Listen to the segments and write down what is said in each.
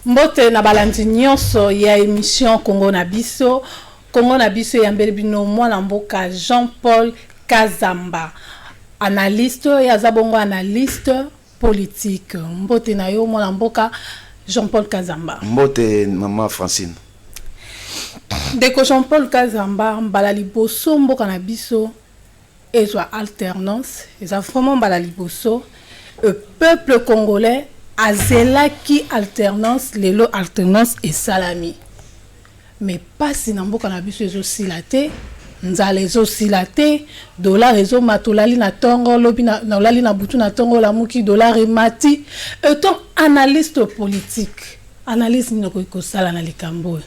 mbote na balandi nyonso ya émission congo na biso congo na biso eyambeli bino mwana mboka jean paul kazamba analyste oyo aza bongo analyste Politique. Mbote na yo mwana mboka Jean Paul Kazamba. Mbote maman Francine. Ndeko Jean Paul Kazamba mbala liboso mboka na biso ezwa alternance eza vraiment mbala liboso le peuple congolais azelaki alternance lelo alternance esalami. Mais pasi na mboka na biso ezo sila te, nzala ezo sila te, dollar ezo mata olali na tongo lobi na olali na butu na tongo olamuki dollar emati. Etant analyste politique, analyse nini okoki ko sala na likambo oyo?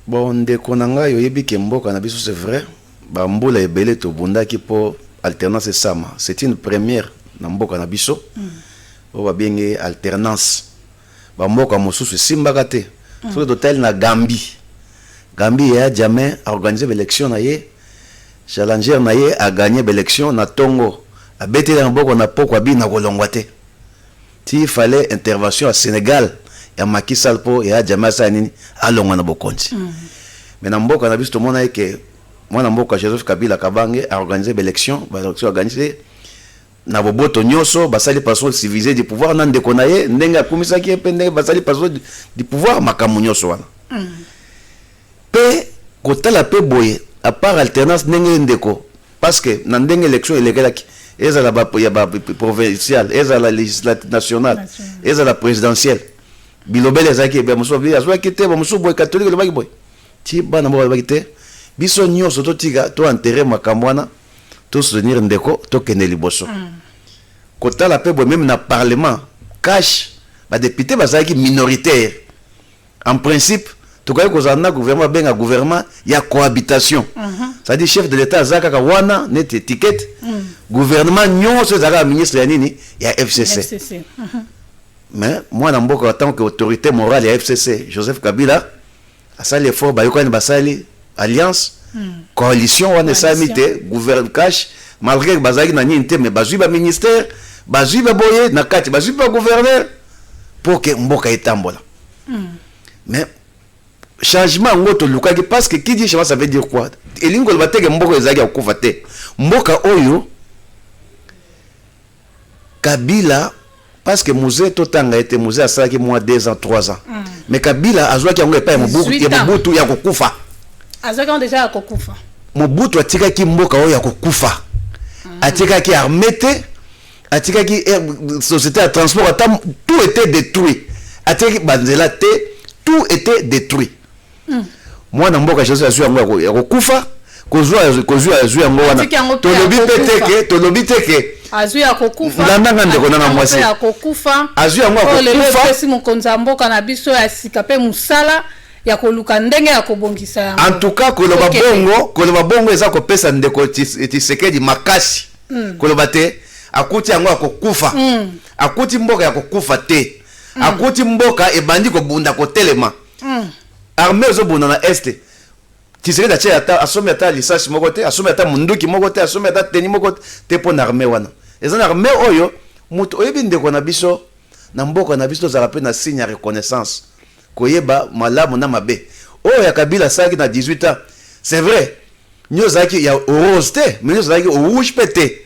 Bon ndeko na ngai oyebi ke mboka na biso c'est vrai ba mbula ebele to bundaki po alternance esama c'est une première na mboka na biso oyo ba bengi alternance. Ba mboka mosusu esimbaka te soki totali na Gambie Gambie yaya Jammeh a organise ba elections na ye chalanger na ye a gagne ba elections na tongo abeteli maboko na pokua bina kolongua te ti il fallait intervention ya Senegal ya Macky Sall po yaya Jammeh asala nini alongua na bokonzi mais na mboka na biso tomonaki ke muana mboka Joseph Kabila Kabange a organise ba elections ba elections a gagne te Na boboto nyoso, basali password civilise du pouvoir na ndeko na ye, ndenge akumisaki ye mpe ndenge basali password du pouvoir makambo nyoso wana. Mpe kotala mpe boye, à part alternance ndenge ye ndeko, parce que na ndenge election elekelaki, ezala ba ya ba provinciale, ezala legislati nationale, Nationale. ezala presidentielle, bilobela ezalaki ebele, mosusu balobi azwaki te, bamosusu boye, catholique elobaki boye. Ti bana moko balobaki te, biso nyoso totika, to enterrer makambo wana, To soutenir ndeko to kende liboso. Kotala pe boye meme na parlement cash ba deputes bazalaki minoritaires. En principe tokokaki kozala na gouvernement babenga gouvernement ya cohabitation. C'est à dire chef de l'etat aza kaka wana neti etiquette. Gouvernement nionso ezala kaka ministre ya nini? Ya FCC. Mais mwana mboka en tant que autorite morale ya FCC Joseph Kabila. Asali effort bayokani basali alliance coalition wana esalami te gouverne cash malgre que bazalaki na nini te mais bazwi ba ministère bazwi ba boye na kati bazwi ba gouverneur pour que mboka etambola mais changement yango tolukaki parce que qui dit changement ça veut dire quoi elingi koloba te ke mboka ezalaki ya kokufa te mboka oyo Kabila parce que muze to tanga ye te muze asalaki mwa deux ans trois ans mais kabila azwaki yango epai ya mobutu 18 ya ans. mobutu ya kokufa azwaki yango deja ya kokufa mobutu atikaki mboka oyo ya kokufa atikaki arme te atikaki eh, société ya transport ata tout était détruit atikaki banzela te tout était détruit mm. mwana mboka jesus azwi yango ya kokufa kozwa kozwa azwi yango wana tolobi mpe teke tolobi teke azwi ya kokufa landanga ndeko nanga mwasi ya kokufa azwi yango ya kokufa lelo epesi mokonzi ya mboka na biso ya sika mpe mosala ya koluka ndenge ya kobongisa yango en tout cas koloba bongo koloba bongo eza kopesa ndeko tisekedi makasi mm. koloba te akuti yango ya kokufa mm. akuti mboka ya kokufa te mm. akuti mboka ebandi kobunda kotelema Hum. Armee ezo bunda na est. Tshisekedi atie ata asombi ata lisasi moko te, asombi ata munduki moko te, asombi ata teni moko te mpo na armee wana. Eza na armee oyo moto oyebi ndeko na biso na mboka na biso tozala mpe na signe ya reconnaissance koyeba malamu na mabe. Oyo ya Kabila asalaki na 18 ans c'est vrai nyoso ezalaki ya rose te mais nyoso ezalaki rouge mpe te.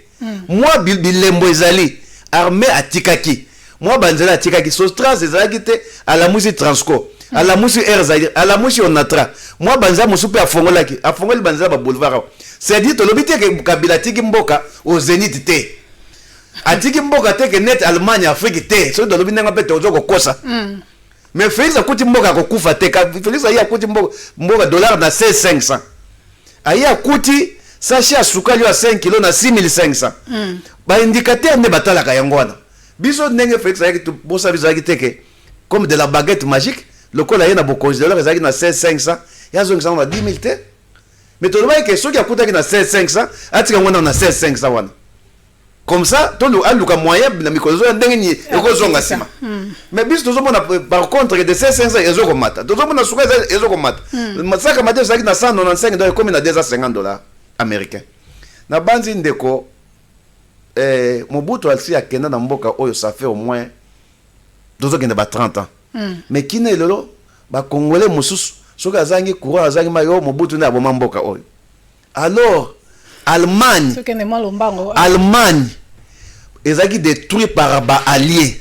Mwa bilembo ezali, Armee atikaki mwa banzela, atikaki Sostraze, ezalaki te, alamwisi Transco, alamwisi Air Zaïre, alamwisi Onatra, mwa banzela mosusu mpe afongolaki, afongoli banzela ba boulevard awa. C'est à dire tolobi te que Kabila atiki mboka au zenith te. Atiki mboka te que net Allemagne, Afrique te. Soki tolobi ndenge wana mpe tozo kokosa. Mais Felix akuti mboka akokufa te. Felix aye akuti mboka, mboka dollar na 6500. Aye akuti sachet ya sukali ya 5 kilo na 6500. Mm. Ba indicateurs nde batalaka yango wana. Biso ndenge Felix ayaki bosa biso ayaki teke comme de la baguette magique lokola ye na bokonzi dollar ezalaki na 6500 ya zongisa na 10000 te. Mais tolobaki ke soki akutaki na 6500 atika yango na 6500 wana. Comme ça, tolu aluka moyen na mikolo zoya ndenge ni eko zonga sima. Hmm. Mais biso tozo mona euh, par contre de 500 ezo komata. Tozo mona suka ezo komata. Hmm. Masaka mate zaki na 195 dollars comme na 250 dollars américains. Na banzi ndeko eh Mobutu alsi akenda na mboka oyo ça fait au moins tozo kende ba 30 ans. Hmm. Mais kina elolo ba congolais mususu soki azangi courant azangi mayo Mobutu na aboma mboka oyo. Alors Allemagne Allemagne ezalaki détruit par ba alliés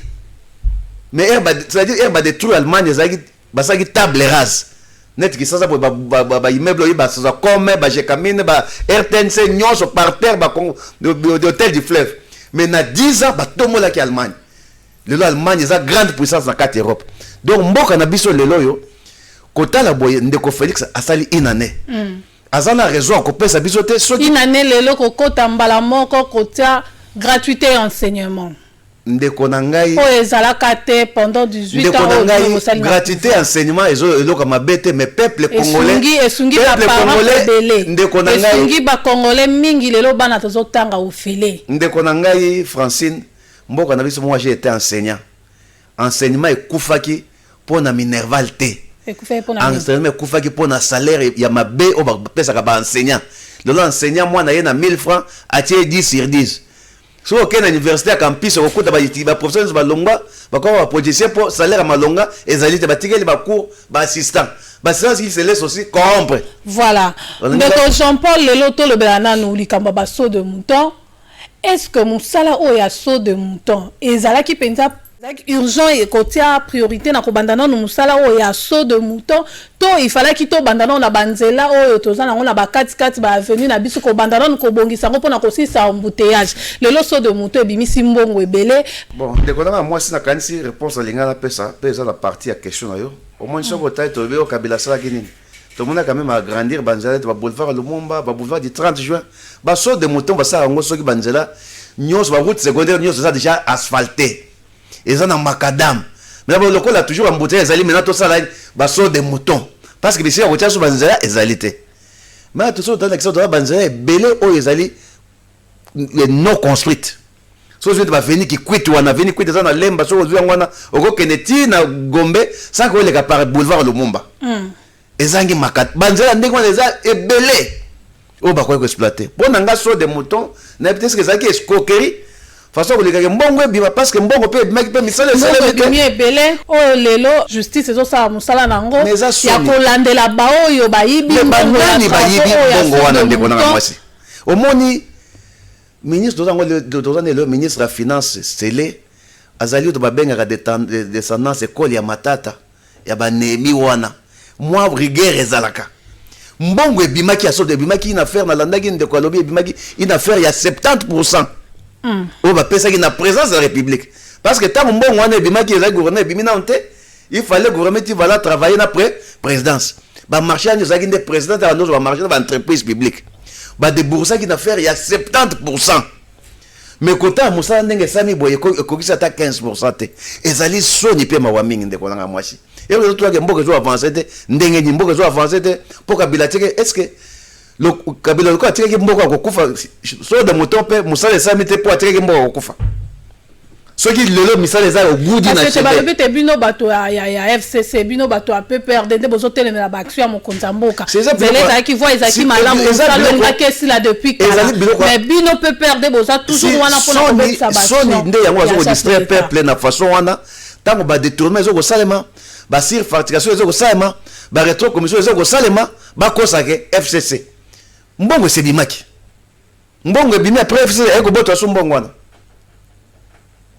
mais ere c'est-à-dire ere badétruire allemagne ezalaki basalaki table rase neti kisasa boye baimmeuble oyo basacome bajekamine ba rtnc nyonso par terre bahotel du fleuve mais na 10 ans batombolaki allemagne lelo allemagne eza grande puissance na kati europe donc mboka na biso lelo oyo kotala boye ndeko félix asali une année mm. aza na raison ya kopesa biso te soki tina ne lelo kokota mbala moko kotia gratuité ya enseignement ndeko na ngai oyo ezalaka te pendant 18 ndeko na ngai gratuité ya enseignement ezo eloka mabe te mais peuple congolais esungi esungi ba parents ebele ndeko na ngai esungi ba congolais mingi lelo bana tozo tanga ofele ndeko na ngai Francine mboka na biso moi j'ai été enseignant Enseignement ekufaki po na minerval te. Ekufaki po na nini? Enseignement ekufaki po na salaire ya mabe oyo ba pesaka ba enseignants. Lelo enseignant mwana aye na 1000 francs atie ye 10 sur 10. Soki oke na universite ya campus okokuta ba ba professeurs nionso ba longwa bakoma ba politiciens po salaire ya malonga ezali te batikeli ba cours ba assistant. Ba assistant ils se laissent aussi corrompre. Voilà. Ndeko Jean Paul lelo tolobela nanu likambo ya ba sauts de mouton. Est ce que musala oyo ya saut de mouton ezalaki penza urgent et kotia priorite na kobanda nanu musala oyo ya saut de mouton to il falaki tobanda nanu na ba nzela oyo toza nango na ba kati kati ba avenue na biso kobanda nanu kobongisa yango pona kosilisa embouteillages lelo saut de mouton ebimisi mbongo ebele Bon, ndeko nanga ya mwasi nakanisi reponse nalinga napesa pe eza na partie ya question na yo. Omoni soki otali tolobi oyo Kabila asalaki nini? Tomona quand meme agrandir ba nzela neti ba boulevard Lumumba, ba boulevard du 30 juin, ba saut de mouton basala yango soki ba nzela nyonso ba route secondaire nyonso eza deja asphalte eza na macadam mais ba lokola toujours embouteillage ezali maintenant tosala ba saut de mouton parce que bisika kotia so ba nzela ezali te mais toso tala kisa toza ba nzela ebele oyo ezali non construite soki ozwi baveni kikwiti wana veni kwiti eza na lemba soki ozwi yango wana okokende ti na gombe sanke oleka par boulevard lumumba mm. ezangi makati banzela ndenge wana eza ebele oyo bakoki koexploite mpo na nga so de mouton nayebi te soki ezalaki escroquerie façon kolekaka mbongo ebima parce que mbongo mpe ebimaki mpe misala esalemibimi ebele oyo lelo justice ezosala mosala na yango ya kolandela baoyo bayibi banani bayibi mbongo wana ndeko nanga mwasi omoni Ministre toza ngo lelo toza ne lelo ministre ya finance sele azali oto babengaka descendance ekole ya matata ya ba nehemi wana mwa rigueur ezalaka mbongo ebimaki ya soto ebimaki une affaire nalandaki ndeko alobi ebimaki une affaire ya 70 pourcent mm. oyo bapesaki na présence ya république parce que ntango mbongo wana ebimaki ezali gouverneur ebimi nano te Il fallait gouvernement ti vala travailler na pre présidence. Ba marché yango ezalaki nde présidence ya ndozo ba marché na ba entreprise publique. Ba deboursaki na faire ya 70%. Mais kota mosala ndenge esami boye ekokisi ata 15% te. Ezali soni pe mawa mingi ndeko nanga mwasi. Elo ezo tulaka mboka ezo avancer te ndenge ni mboka ezo avancer te mpo kabila teke est-ce que kabila lokola atikaki mboka akokufa so de moto mpe mosala esalami te mpo atikaki mboka akokufa soki lelo misala eza ogudi na balobi te bino bato ya fcc bino bato ya pprd nde bozotelemela baaction ya mokonzi ya mboka zela ezalaki voi ezalaki malamu mosala olingaki esila depuis kala mais bino pprd boza toujours wana mpona kobebisa basoni nde yango bazokodistraire peuple na façon wana ntango badetournement ezokosalema basir facturation ezokosalema baretro commission ezokosalema Bakosa ke FCC mbongo esebimaki mbongo ebimi après FCC aye kobota su mbongo wana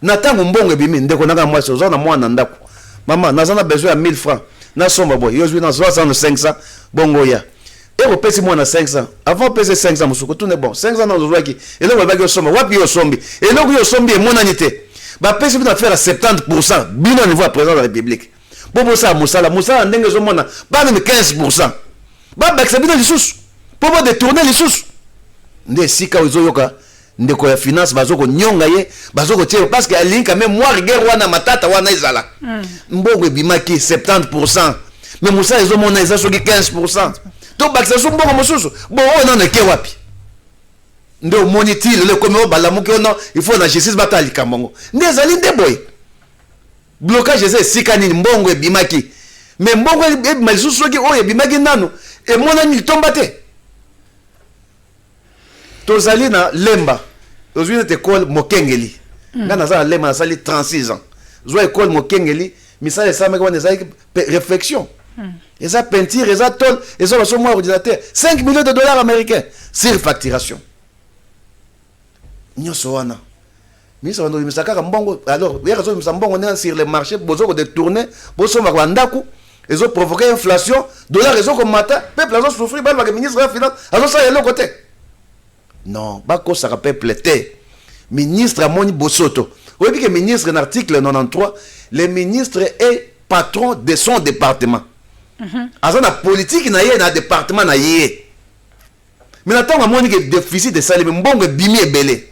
na ntango mbongo ebimi ndeko nanga mwasi oza na mwana na ndako mama naza na besoin ya 1000 francs nasomba boye yo ozwi na 6500 bongo ya eko pesi mwana 500 avant pese 500 mosusu kotuna bon 500 na ozwaki eloko ebaki osomba wapi yo osombi eloko yo osombi emonani te bapesi bino affaire ya 70 pourcent bino niveau ya président de la république mpo bosala mosala mosala ndenge ezomona bana 15 pourcent babakisa bino lisusu mpo bodetourne lisusu nde esika oyo ezoyoka ndeko ya finance bazo konyonga ye bazo kotyela parce que alingi kame mwa rigueur wana matata wana ezala mm. mbongo ebimaki 70 pourcent me mosala ezomona eza soki 15 pourcent tobakisa so mbongo mosusu bo oyo nano eke wapi nde omoni ti lelo ekomi oyo balamuki ono il faut na justice batala likambo yango nde ezali nde boye Blocage eza esika nini mbongo ebimaki mais mbongo ebima lisusu soki oyo ebimaki nano emonani litomba te tozali na lemba ozwi nete ekole mokengeli mm. ngai naza na lemba nasali 36 ans zwa ekole mokengeli misala esalamaki wana ezalaki réflexion mm. eza peinture eza tole eza baso mwa ordinateur 5 millions de dollars américains sur facturation nyonso wana Ministre bando bimisa kaka mbongo alors yaka zo bimisa mbongo ndenge sur le marché bozo ko détourner bosomba kwa ndaku ezo provoquer inflation dollar ezo komata peuple azo souffrir baloba ke ministre ya finance azo sala eloko te non bakosaka peuple te ministre amoni bosoto oyebi ke ministre na article 93 le ministre est patron de son département mhm. aza na politiki na ye na département na ye Mais na tango amoni que deficit esalemi, mbongo ebimi ebele.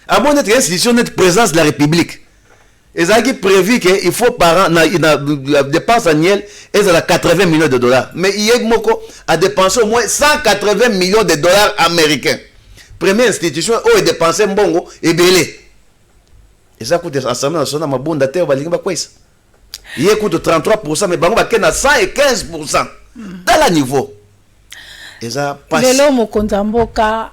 Amoni ete institution neti présidence de la République ezalaki prévu que il faut par an na, na dépense annuelle ezala 80 millions de dollars. Mais IEG moko a dépensé au moins 180 millions de dollars américains. Première institution oyo edépense mbongo ebele. Eza kutu assemblée nationale mabunda te balingi bakweyisa. ye kutu 33 mais bango bakei na 115 tala niveau eza pasi lelo mokonzi ya mboka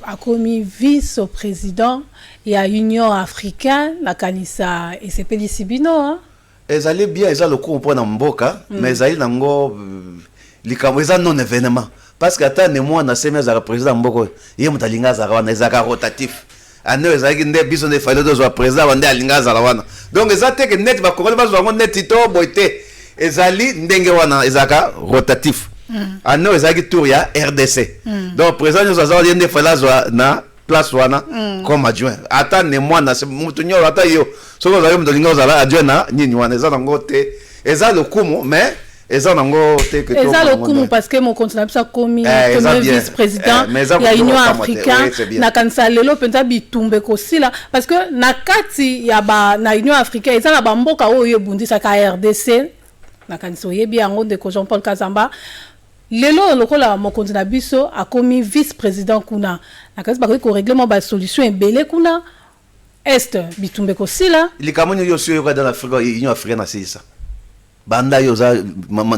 akomi vice président ya union africaine nakanisa esepelisi bino hein? ezali bien eza lokumu mpo na mboka mm. mais ezali nango euh, likambo eza non événement Parce que ata ne mwana semi azalaka president ya mboka oyo ye moto alingi azala wana ezalaka rotatif annee oyo ezalaki nde biso nde fallait tozwa president wa nde alingi azala wana donc eza te ke neti bakongoli bazwa yango neti to boye te ezali ndenge wana ezalaka rotatif annee oyo ezalaki tour ya rdc donc president nyonso aza wana ye nde fallait azwa na place wana mm. comme adjoint ata ne mwana mutu nyolo ata yo soki ozali moto olingi ozala adjoint na nini wana eza nango te eza lokumu mais eza nango te que eza lokumu parce que mokonzi na biso akomi eh, premier vice président eh, ya union africain nakanisa lelo mpenza bitumba ekosila parce que na kati ya ba na union africain eza na bamboka oyo ebundisaka rdc nakanisa oyebi yango ndeko jean paul kazamba Lelo oyo lokola mokonzi na biso akomi vice president kuna na kasi bakoki ko regler mwa ba solutions ebele kuna Est bitumba ekosila. Likambo nini yo osi oyoka dans l'Afrique oyo Union africaine asilisa? Banda yo oza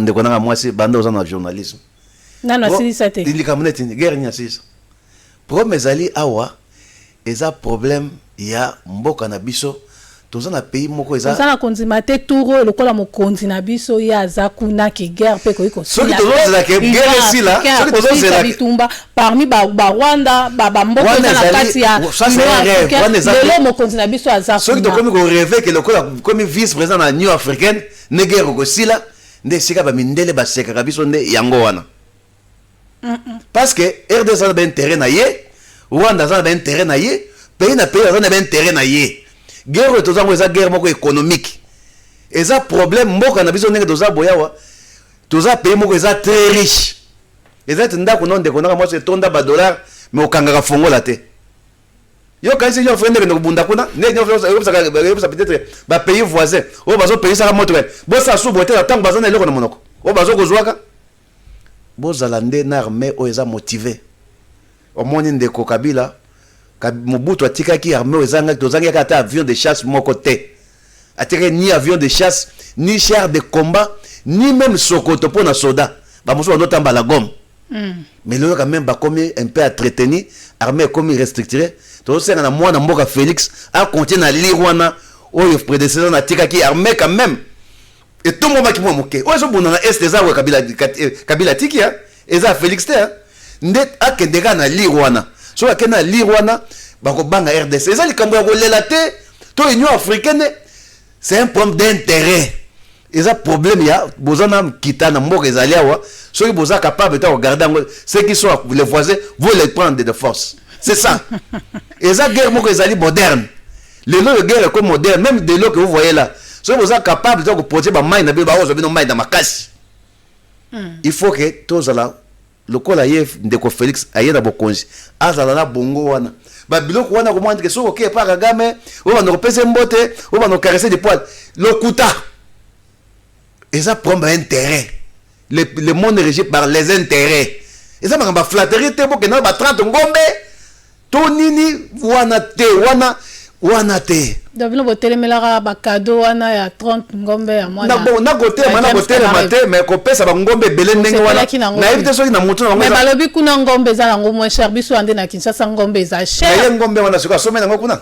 ndeko nanga mwasi banda oza na journalisme. Nanu asilisa te. Likambo neti nini? Guerre nini asilisa? Problème ezali awa eza problème ya mboka na biso toza na pays moko eza. Toza na kondima te tour oyo lokola mokonzi na biso ye aza kuna que guerre pe ekoki kosila. Soki tozo zela que guerre esila soki tozo zela bitumba parmi ba ba Rwanda ba ba mboka eza na kati ya lelo mokonzi na biso aza kuna. Soki tokomi ko reve que lokola komi vice president na Union africaine ne guerre ekosila nde esika ba mindele basekaka biso nde yango wana. parce que RDC aza na ba intérêt na ye, Rwanda aza na ba intérêt na ye, pays na pays aza na ba intérêt na ye. Guerre oyo toza yango eza guerre moko économique. Eza problème mboka na biso ndenge toza boyawa. Toza pays moko eza très riche. Eza ete ndako na ndeko naka mwasi etonda ba dollars mais okangaka fongola te. Yo kanisi yo fende kende kobunda kuna, ne nyo fende yo saka yo saka peut-être ba pays voisins. Oyo bazo payer saka moto. Bo sa subo te tango bazana eloko na monoko. Oyo bazo kozwaka Bozala nde na armee oyo eza motive omoni ndeko kabila mobutu atikaki armee oyo ezangaki tozangi yaka ata avion de chasse moko te atikaki ni avion de chasse ni char de combat ni meme sokoto mpo na soda bamosusu bando tamba la gomme mm. mais lelo quand même bakomi un peu atreteni armée ekomi restructure tozosenga na mwana mboka félix akontie na lire wana oyo predecesseur natikaki armée quand même etombwamaki mwa moke oyo ezobunda na est eza oyo kabila, eh, kabila atiki eh. eza felix te eh. nde akende kaka na lire wana soki akende na lire wana bakobanga rdc eza likambo ya kolela te to union africaine c'est un problème d'intérêt eza problème ya boza na kita na mboka ezali awa soki boza capable ta kogarde yango ce qui sont les voisins vous les prendre de force c'est ça eza guerre moko ezali moderne lelo oyo guerre eko moderne meme de l'eau que vous voyez là soki boza capable to koproduire bamai na bino bakozwa bino mai na makasi hmm. il faut que tozala lokola ye ndeko félix aye na bokonzi azala na bongo wana babiloko wana komona ndeke soki okei epa kagame oyo banda kopesa mbote oyo banda kokarese de poile lokuta eza problème ya intérêt le, le monde régi par les intérêts eza makambo ya flatterie te bokenda na ba 30 ngombe to nini wana te wana wana te donc bino botelemelaka bakado wana ya 30 ngombe ya mwana nakotelema nakotelema te mais kopesa bangombe ebele ndenge wana nayebi te soki na motu na bango balobi kuna ngombe eza nango moins cher biso ande na kinshasa ngombe eza cher ye ngombe wana soki asombe nango kuna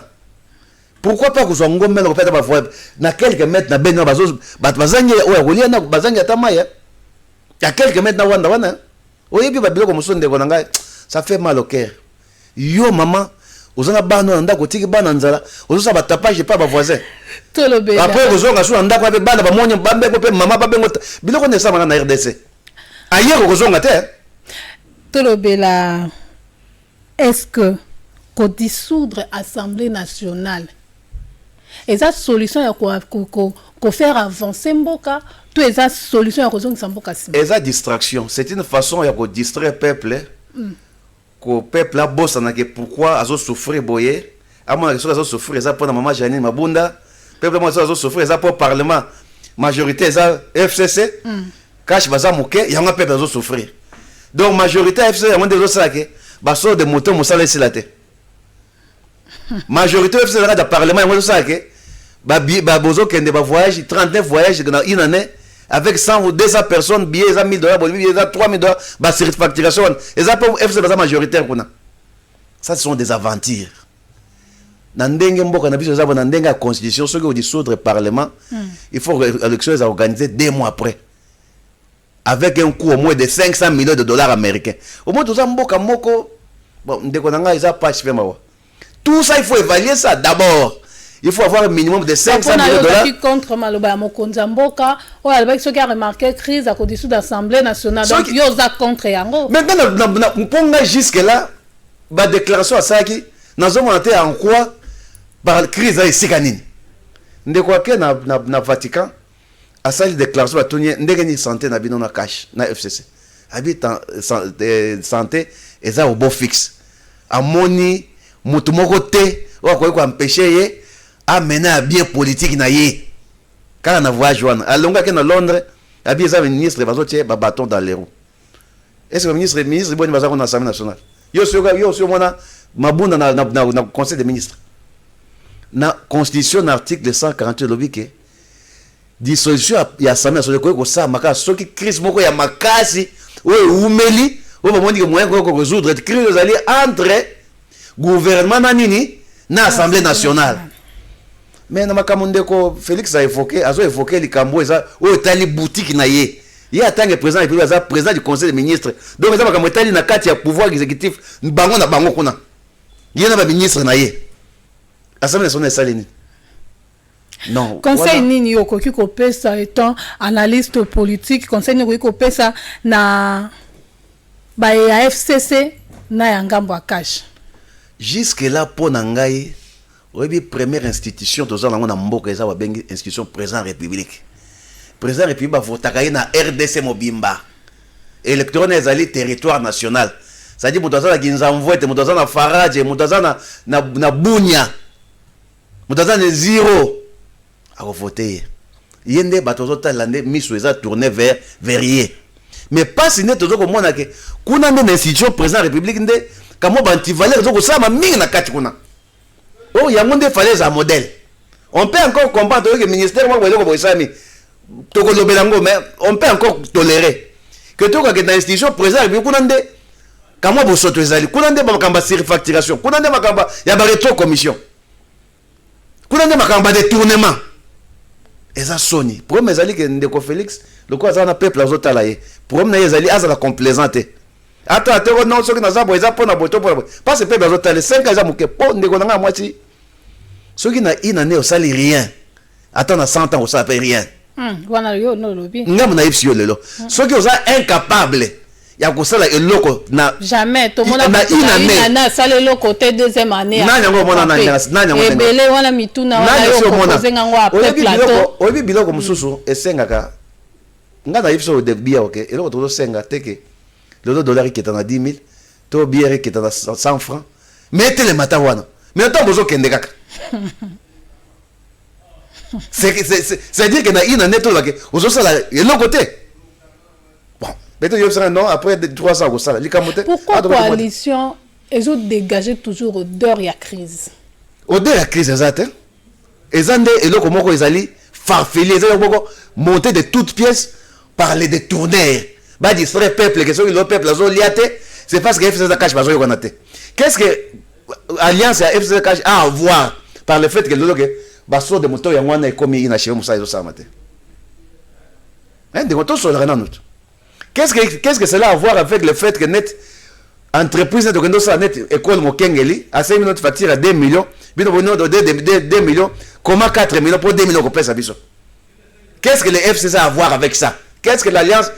Pourquoi pas kozwa ngombe na kopeta ba voix na quelques mètres na beni bazo bato bazangi oya kolia na bazangi ata maya ya quelques mètres na wanda wana oyebi ba biloko mosusu ndeko na ngai ça fait mal au cœur yo maman oza na bana na ndako otiki bana nzala ozosala batapage epai bavoisin apres okozonga su na ndako ape bana bamoni bambeko mpe mama babengo biloko nde esamaka na rdc ayeko kozonga te tolobela Est ce que ko dissoudre assemblee nationale eza solution ya ko faire avancer mboka to eza solution ya kozongisa mboka sima? Eza distraction, c'est une façon ya ko distraire peuple, ko peuple abosana ke pourquoi azo souffrir boye, amona ke soki azo souffrir eza pona maman Janine Mabunda pe pe soki azo souffrir eza po parlement majorité eza FCC mm. cash baza moke yango pe azo souffrir donc majorité ya FCC yango nde ezo sala ke ba sort de moto mosala esila te majorité FCC ezalaka da parlement yango ezo sala ke ba ba bozo kende ba voyage 39 voyage dans une année avec 100 ou 200 personnes billets eza 1000 dollars billets eza 3000 dollars ba surfacturation eza pe FCC baza majoritaire kuna Ça ce sont des aventures. Na ndenge mboka na biso ezaba na ndenge ya constitution soki au dissoudre parlement, mm. il faut que l'élection soit organisée deux mois après. Avec un coût au moins de 500 millions de dollars américains. Au moins toza mboka moko bon ndeko na ngai eza patch pe mawa. Tout ça il faut évaluer ça d'abord. il faut avoir minimum de 500 millions de dollars contre maloba ya mokonzi ya mboka oyo alobaki soki a remarquer crise à côté sous l'Assemblée nationale donc yo oza contre yango maintenant mpo ngai jusque là ba déclaration asalaki nazomona te en quoi par crise ya esika nini ndeko ake na, na, na vatican asali declaration batuni ye ndenge nini sante na bino na cash na fcc abi eh, sante eza obo fixe amoni motu moko te oyo akoki koampeshe ye amena ya bien politike na ye kaka na voyage wana alongaki na londres abi eza ministre bazotie babaton dans les roues est-ce que ministre ministre boni baza kona assemblée nationale yo osi omona mabunda na, na, na, na conseil des ministres na constitution na article 148 elobi ke Dissolution ya, ya Assemblée nationale ekoki kosalama kaka soki crise moko ya makasi oyo eumeli oyo bamoni ke moyen koki koresoudre crise ezali entre gouvernement na nini na Assemblée nationale mais na makambo ndeko Felix a evoke azo evoke likambo eza oyo etali boutique na ye ye atange président ya république aza président du conseil des ministres donc eza makambo etali na kati ya pouvoir exécutif bango na bango kuna ye na baministre na ye assemblée nationale esali nini Non, conseil wana... nini okoki kopesa etant analyste politique conseil nini okoki kopesa na baye ya fcc na ya ngambo ya cash jusque là mpo na ngai oyebi première institution toza nango na mboka eza babengi institution président république président république bavotaka ye na rdc mobimba électorone ezali territoire national cestadi moto aza na kinzamvwete moto aza na faraje moto aza na, na, na bunia Moto aza ne zero ako vote ye. Ye nde bato bazo talela nde miso eza tourne vers vers ye. Mais pasi nde tozo komona ke kuna nde na institution president ya republique nde kamwa ba antivaleur ezo kosalama mingi na kati kuna. Oh yango nde fallait ezala modèle. On peut encore comprendre toyoki ministère moko boye eloko boye esalami. tokolobela yango mais on peut encore tolérer que tokoka kenda na institution président ya kuna nde kamwa bosoto ezali kuna nde makambo ya surfacturation kuna nde makambo ya baretro commission kuna nde makambo ya détournement eza soni problème ezali ke ndeko félix lokola azala na peuple azotala ye problème na ye ezali azala complaisant te ata te no soki naza boye eza mpo na boye to mpo na boye mpasi peuple azotala 5 ans eza moke mpo ndeko na ngai ya mwasi soki na inane osali rien ata na 100 ans osala pe rien hmm, wana yo no lobi ngambo na yebisi yo lelo hmm. soki oza incapable ya kosala eloko na jamais tomona na une année na sala eloko te deuxième année nani yango omona nani nani yango ebele wana mituna wana yo proposer ngango après plateau oyebi biloko mosusu esengaka ngai nayebi so biya oke eloko tozosenga teke lelo dollar eketa na 10 000 to biere eketa na 100 franc mais etelema ata wana mais ntango bozokende kaka c'est-à-dire que na ina neto lobake ozosala eloko te peut-être yebisaka non après 3 ans akosala likambo te pourquoi coalition ezo dégager toujours odeur ya crise odeur ya crise eza te eza nde eloko moko ezali farfeli eza eloko moko monte de toute pièce par les détourneurs ba distraire peuple que soki lo peuple azo lia te c'est parce que FCC cash bazo yokana te qu'est-ce que euh, alliance ya FCC cash a avoir par le fait que lelo que ba sort de moto yango wana ekomi ina chez musa ezo salama te hein de moto sur la renano qu'est-ce que qu'est-ce que cela a voir avec le fait que net entreprise net okendo sala net école mokengeli asemi notre facture à 2 millions bino bono de 2 millions comment 4 millions pour 2 millions ko pesa biso Qu'est-ce que le FCC a à voir avec ça? Qu'est-ce que l'alliance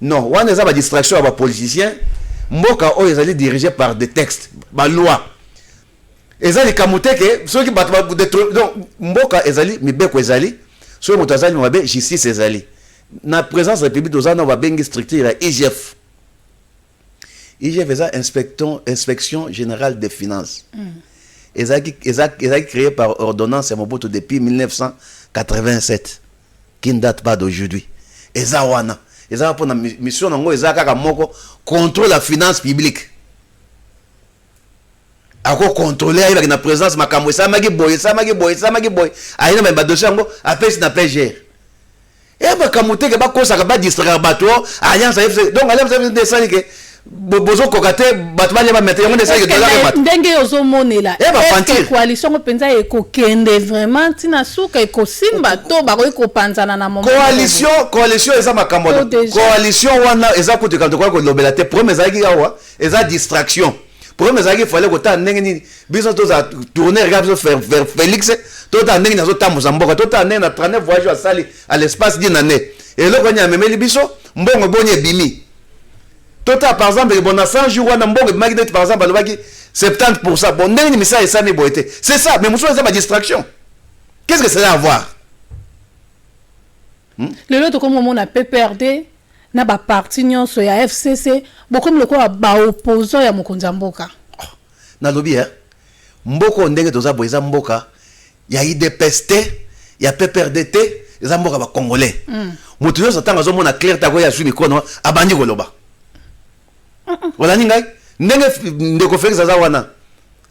Non, wana eza ba distraction ya ba politiciens. Mboka oyo ezali dirigé par des textes, ba lois. Eza likambo te ke soki bato ba detro- donc mboka ezali mibeko ezali soki moto azali mabe justice ezali na présence ya public toza na babengi structure ya IGF IGF eza inspection, inspection generale des finances mm. ezalaki eza, eza créé par ordonnance ya Mobutu depuis 1987 qui ne date pas d'aujourd'hui eza wana eza mpo na mission nango eza kaka moko contrôle la finance publique ako controle ayebaki na presence makambo esalamaki boye esalamaki boye esalamaki boye aye na badosie yango apesi na pgr e eh, makambo teke bakosaka badistraire bato oh, alliance afc donc alliance afc nde esali ke bozokoka te bato balia bamete yango nde esali ke ndenge ozomonela eh, coalition ngo mpenza ekokende vraiment ntina suka ekosimba to bakoki kopanzana na coalition coalition eza makambo coalition wana eza kutu kamto koya kolobela te problème ezalaki awa eza distraction problème ezalaki fale kotala ndenge nini biso tozala tourner kaka biso vers félix totala ndenge nini azotambusa mboka totala ndenge na 39 voyage oyo asali à l'espace d'une année eloko nini amemeli biso mbongo boni ebimi totala par exemple ke bona 100 jour wana mbongo ebimaki neti par exemple alobaki 70 pour cent bon ndenge nini misala esami boye te c'est ça mais mosusu eza badistraction qu'est ce que cela avoir Hmm? lelo tokomi komona pprd na baparti nyonso ya fcc bokomi lokola baopposant ya mokonzi ya mboka oh, nalobi e mboka oyo ndenge toza boye eza mboka ya idps te ya pprd te eza mboka bacongolais hmm. moto nyonso ntango azomona claire tako ye azwi mikono abandi koloba olandi ngai ndenge ndeko felix aza wana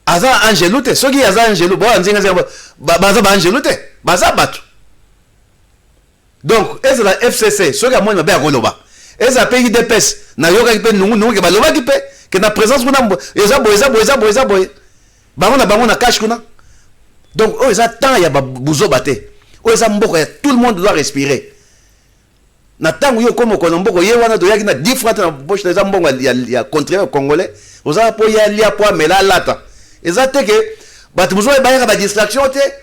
aza angelu te soki aza angelu boanzingazinga baza baangelu te baza bato Donc ezala FCC soki amoni mabe akoloba, ezala pe UDPS nayokaki pe nungu nungu ke balobaki pe ke na presence kuna eza boye eza boye eza boye eza boye bango na bango na cache kuna. Donc oyo eza temps ya buzoba te, oyo eza mboka ya tout le monde doit respirer. Na tango yo okomi okona mboka ye wana toyaki na 10 francs na poche eza mbongo ya, ya, ya contribuable congolais oza po ya lia po amela alata eza te ke bato mosusu bayaka ba distraction te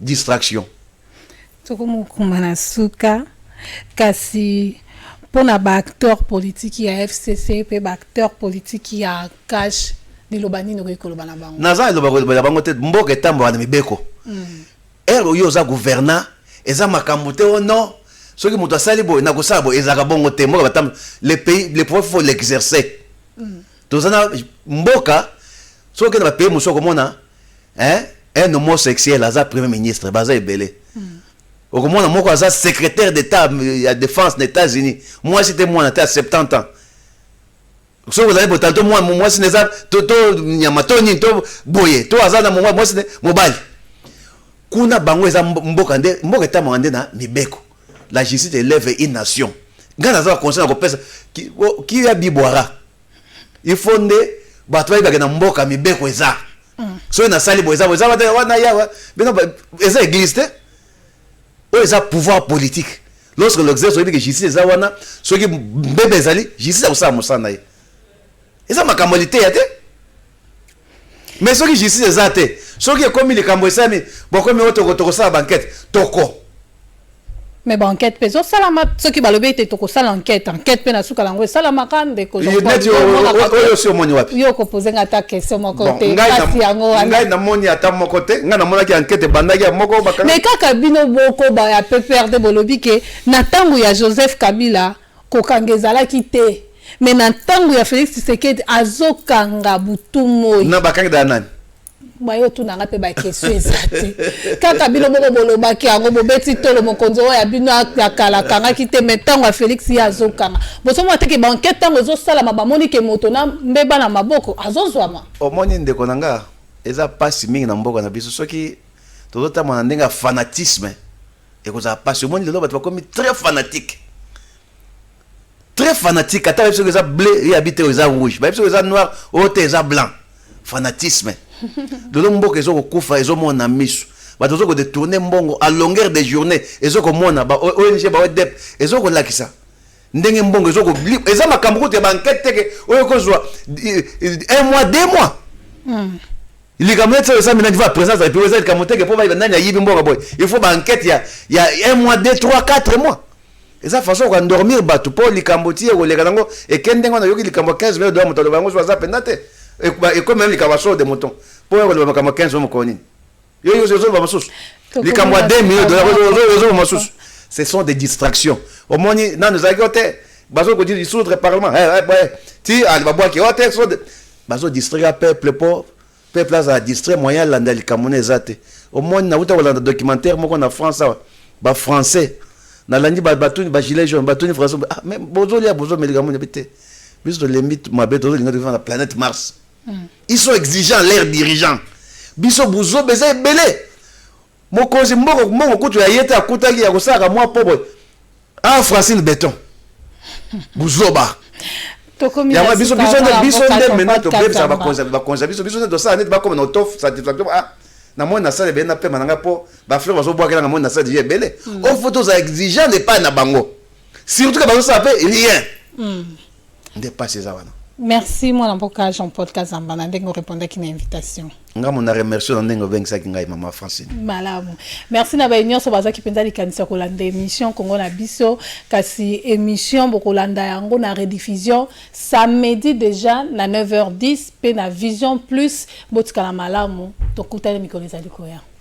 Distraction. Toko mokuma na suka kasi mpo na ba acteurs politiki ya fcc mpe ba acteurs politiki ya CACH liloba nini okoki koloba na bango? Naza liloba kolobela bango te mboka etambola na mibeko heure oyo oza gouverna eza makambo te oh non soki moto asali boye na kosala boye ezalaka bongo te mboka batamb le pays le pouvoir faut l'exercer toza na mboka soki okenda ba pays mosusu okomona Hein? Un homosexuel aza premier ministre baza ebele. Okomona moko aza secrétaire d'État euh, ya défense na États-Unis. Mwasi te mwana te à 70 ans. soki ozali boye tanto mwa- mwasi na eza to to nyama to nini to boye to aza na mwa- mwasi ne- mobali kuna bango eza mbo- mboka nde mboka etamaka nde na mibeko la justice elève une nation ngai naza na conseil na kopesa ki- o- kiya bibwara il faut nde bato bayebake na mboka mibeko eza mm. soki nasali boye eza boye eza bata wana yawa bino eza église te oyo eza pouvoir politique lorsque l'exerce oyebi ke justice eza wana soki mbebe ezali justice akosala mosala na ye eza makambo ya liteya te Mais soki justice eza te, soki ekomi likambo esami, bokomi oyo toko tokosala banquete, toko. Mais ba enquête pe ezosalama soki balobi ete tokosala enquête enquête pe na suka nango esalamaka ndeko neti oyo osi omoni wapi yo okopose nga ata question moko te kasi yango wana ngai namoni ata moko te ngai namonaki enquête ebandaki ya moko mais kaka bino boko ba ya pprd bolobi ke na ntango ya joseph kabila Kokanga ezalaki te mais na ntango ya Felix Tshisekedi azokanga butu moi. Na bakangi da nani? bayo tuna nga mpe bakestion eza te kaka bino moko bolobaki yango bobeti tolo mokonzi oyo ya bino ya kala akangaki te mai ntango ya félix ye azokanga bosomona te ke bankete ntango ezosalama bamoni ke moto na mbeba na maboko azozwama omoni ndeko na nga eza mpasi mingi na mboka na biso soki tozotambola na ndenge ya fanatisme Ekozala pasi omoni lelo bato bakomi très fanatique. Très fanatique ata bayebi soki eza bleu ye abi te eza rouge. Bayebi soki eza noir oyo te eza blanc. Fanatisme. Lelo mboka ezo kokufa ezo mona misu. Bato ezo ko detourner mbongo à longueur de journée ezo komona ba ONG ba ODEP ezo kolakisa. ndenge mbongo ezo ko eza makambo kutu ya ba enquête teke oyo kozwa eh, eh, un mois deux mois mm. likambo neti oyo eza minani va présence ya likambo eza likambo teke mpo bayeba nani ayibi mbongo boye il faut ba enquête ya, ya un mois deux trois quatre mois eza façon oka dormir bato mpo likambo ti ekoleka nango eke ndenge wana oyoki likambo 15 mille dola moto aloba yango so aza mpenza te ekomi meme likambo ya solo de mouton mpo oyo koloba makambo 15 mille mokolo nini Yo yo zo ba masusu. Likambo 2 millions dollars yo zo ba masusu. Ce sont des distractions. Au moins non nous avons côté bazo ko dire dissoudre le parlement. Eh eh ouais. Ti ali ba bois qui hotel so bazo distraire peuple pauvre. Peuple a distraire moyen landa likambo na ezate. Au moins na uta kolanda documentaire moko na France awa. Ba français nalandi batuni bagilet jaune batuni français ah, mais bozolia bozomelika moni bi te biso tolembi mabe tozolinga tokifana na planète mars ils sont exigeants leurs dirigeants biso buzoba eza ebele mokonzi mboko mbongo kutu ya ye te akutaki ya kosalaka mwa po boye ah francine beton buzoba yango biso biso nde biso nde maintenant tobebisa bakonzi bakonzi biso biso nde tosala neti bakoma na auto satisfaction ah na moni nasala ebele na pema na ngai mpo bafleur bazobwakela na moni nasala deja ebele ofo tozala exigeant epai na bango surtout ke bazosala mpe rien nde pasi eza wana merci mwana mboka jean paul kazamba na ndenge orepondaki na invitation nga mona remercie na ndenge obengisaki ngai mama francine malamu merci na baye nyonso bazwaki mpenza likanisi ya kolanda émission kongo na biso kasi émission bokolanda yango na rediffusion samedi déjà na 9h10 mpe na vision plus botikala malamu tokutani mikolo ezali koya